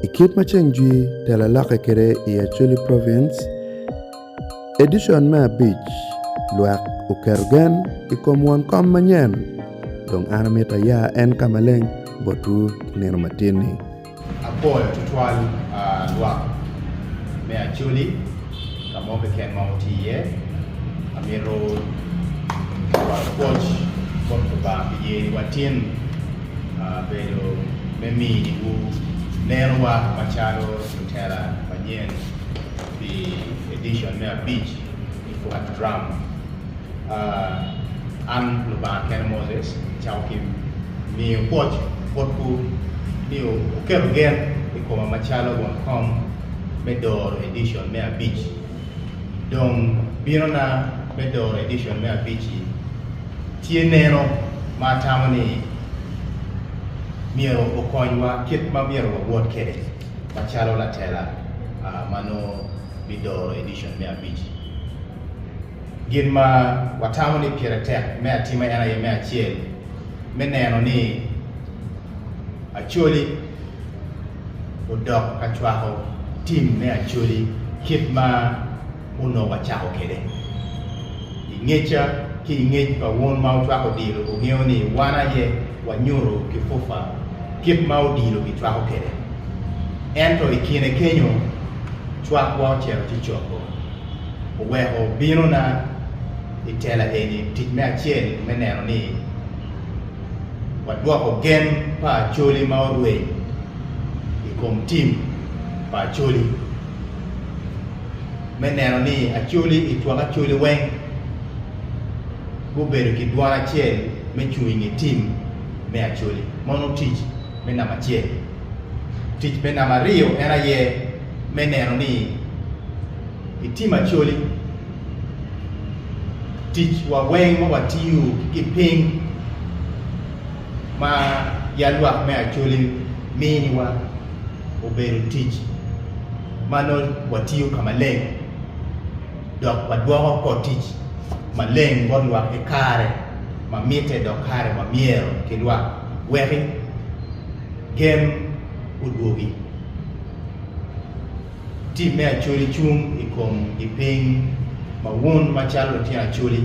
I kit ma ceng jwi tela lokke kwede i Acholi Province, edicon me abic, lwak oketo gen i kom won kom manyen, dong an amito aya en ka maleng botwu ki nino matin-ni. Apwoyo tutwal lwak me Acholi. Ka mo keken ma wuti iye, amito cwalo pwoc bot Lubanga pi yeyowa tin bedo me miniwu nerowa macalo lutela manyen pi edicon me abic i Flat Drum. An Lubanga kene Moses, acako ki miyo pwoc botwu ni wuketo gen i koma macalo won kom, me doro edicon me abic. Dong binona me doro edicon me abic-ci tye neno ma atamo ni myero okonywa kit ma myero wawot kwede macalo latela ma nongo bidoro edicon me abic-ci. Gin ma watamo ni pire tek me atima en aye me acel me neno ni Acholi, odok ka cwako tim me Acholi kit ma onongo wacako kwede. I ngecca ki i ngec pa wun ma wacwako odilo, wungeyo ni wan aye wanyuto ki FUFA kit ma odilo kicwako kwede. Ento i kine kenyo, cwakwa ocito ci coko. Oweko binona i tela eni tic me acel me neno ni, wadwoko gen pa Acholi ma orweny i kom tim pa Acholi me neno ni Acholi i twak Acholi weng gubedo ki dwan acel me cung i nge tim me Acholi. Mono tic me namba acel. Tic me namba aryo en aye me neno ni i tim Acholi ticwa weng ma watiyo ki piny ma yalwak me Acholi miniwa obedo tic ma nongo watiyo ka maleng dok wadwoko oko tic maleng bot lwak ki kare ma mitte dok kare ma myero ki lwak weki gem odwogi. Tim me Acholi cung i kom gi piny ma wun macalo lutino acholi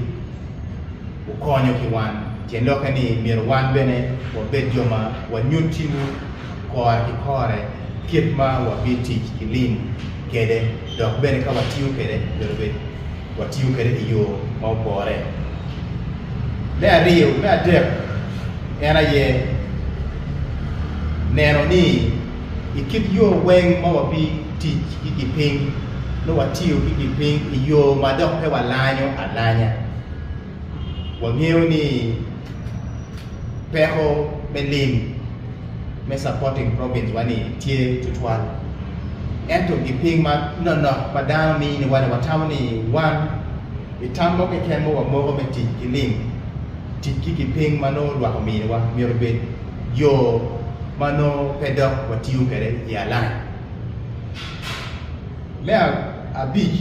wukonyo ki wan. Tyen lokke ni myero wan bene wabed jo ma wanyutiwu kore ki kore kit ma wabitic ki lim kede dok bene ka watiyo kede myero obed watiyo kede i yo ma opore. Me aryo me adek en aye neno ni. i kit yo weng ma wabi tic ki gipiny nyo watiyo ki gipiny i yo ma dok pe walanyo alanya. Wangeyo ni peko me lim me Supporting Province wa ni tye tutwal, ento gipiny ma nonok ma dano mini wa ni watamo ni wan i tam mo keken ma wamoko me tic ki lim, tic ki gipiny ma nongo lwak omini wa myero obed. yo ma nongo pe dok watiyo kwede i alangi. Me abic,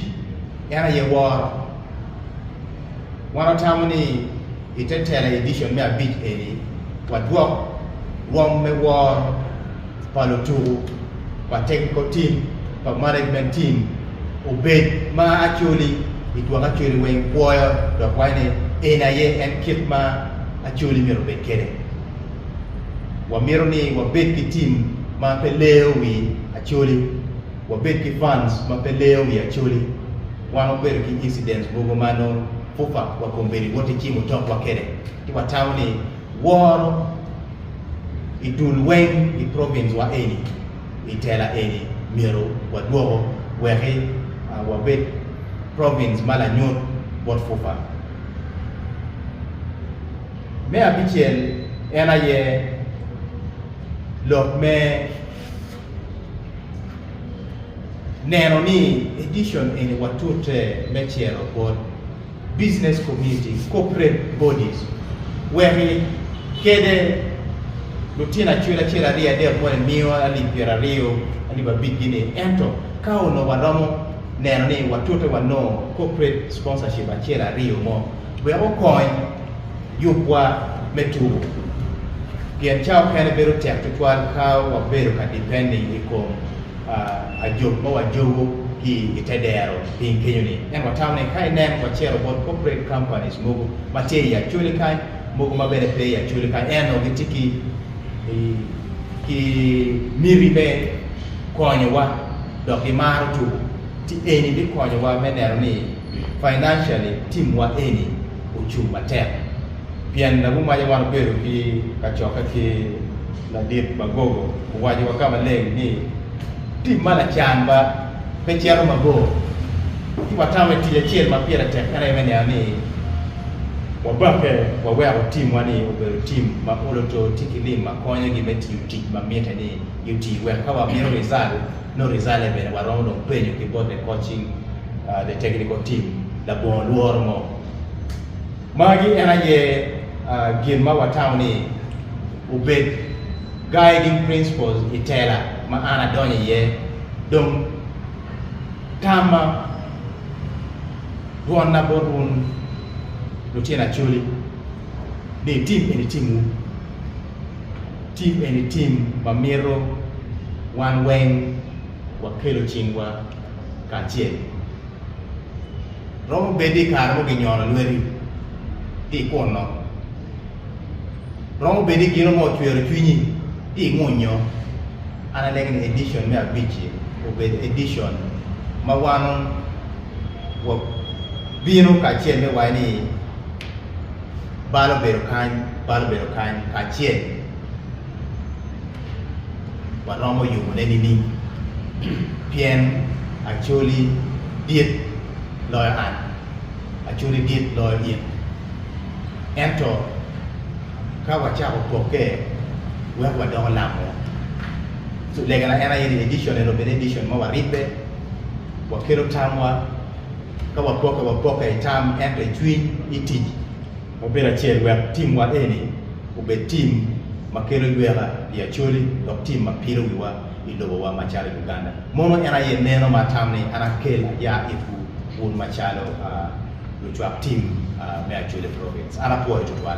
en aye woro. Wan watamo ni i te tela edicon me abic eni, wadwok rwom me woro pa lutuku pa Technical Team pa Management Team obed ma Acholi i twak Acholi weng pwoyo dok waco ni eni aye en kit ma Acholi myero obed kwede. Wamito ni wabed ki tim ma pe leyo wi Acholi, wabed ki fans ma pe leyo wi Acholi. Wan wabedo ki incidents mogo ma nongo FUFA wa kombeddi woti cimo tokwa kede, ci watamo ni woro i dul weng i province wa eni i tela eni myero wadwoko weki wabed province ma lanyut bot FUFA. Me abicel en aye lok me neno ni edition eni watute me cero bot business community, corporate bodies, weki kede lutino acwel acel aryo adek mono emiyo alip pyera aryo alip abic gi ni ento ka onongo waromo neno ni watute wanongo corporate sponsorship acel aryo mo wek okony yubwa me tubo, pien ca okene bedo tek tutwal ka wabedo ka dipenne i kom ajog ma wajogo ki i te dero piny kenyo-ni. Ento watamo ni ka inen wacito bot corporate companies mogo ma tye i Acholi kany, mogo ma bene pe i Acholi kany, ento gitye ki ki miti me konyowa dok gimaro tubo, ci eni bikonyowa me neno ni Financially team wa eni ocung matek pien lagumaja wan obedo ki kacokke ki ladit Magogo owaco wa ka maleng ni team ma lacan ba pe cito mabor ci watamo i tic acel ma pire tek en aye me neno ni wabake waweko team wa ni obedo team ma olo to tye ki lim ma konyo gi me tiyo tic ma mite ni gi oti wek ka wa mito result nongo result ne bene wa romo dong penyo ki bote coaching uh, the technical team, labongo lworo mo. Magi en aye uh, gin ma watamo ni obed guiding principles i tela ma an adonyo iye. Dong tamma dwonna bot wun lutyen Acholi ni tim eni timwu. Tim eni tim ma mito wan weng wakelo cingwa. kacel. Romo bed i kare mo ginyono lweti ti i kunno. Romo bed i gino mo ocwero cwinyi ti i ngunyo. An anegi ni edition me abic-ci obed edition ma wan wa bino kacel me waco ni bal obedo kany, bal obedo kany kacel. waromo yubone nining? Pien Acholi dit loyo an, Acholi dit loyo in. Ento ka wacako pokke wek wadoko lamo, legana en aye ni edition ento bene edition ma waribbe, wakelo tamwa, ka wapokke wapokke i tam ento i cwiny, i tic. Mubedo acel wek timwa eni obed tim ma kelo yweka pi Acholi dok tim ma pilo wiwa i lobowa macalo Uganda. Mono en aye neno ma atam ni an akel aya itwu wun macalo lucwak tim me Acholi Province. An apwoyo tutwal.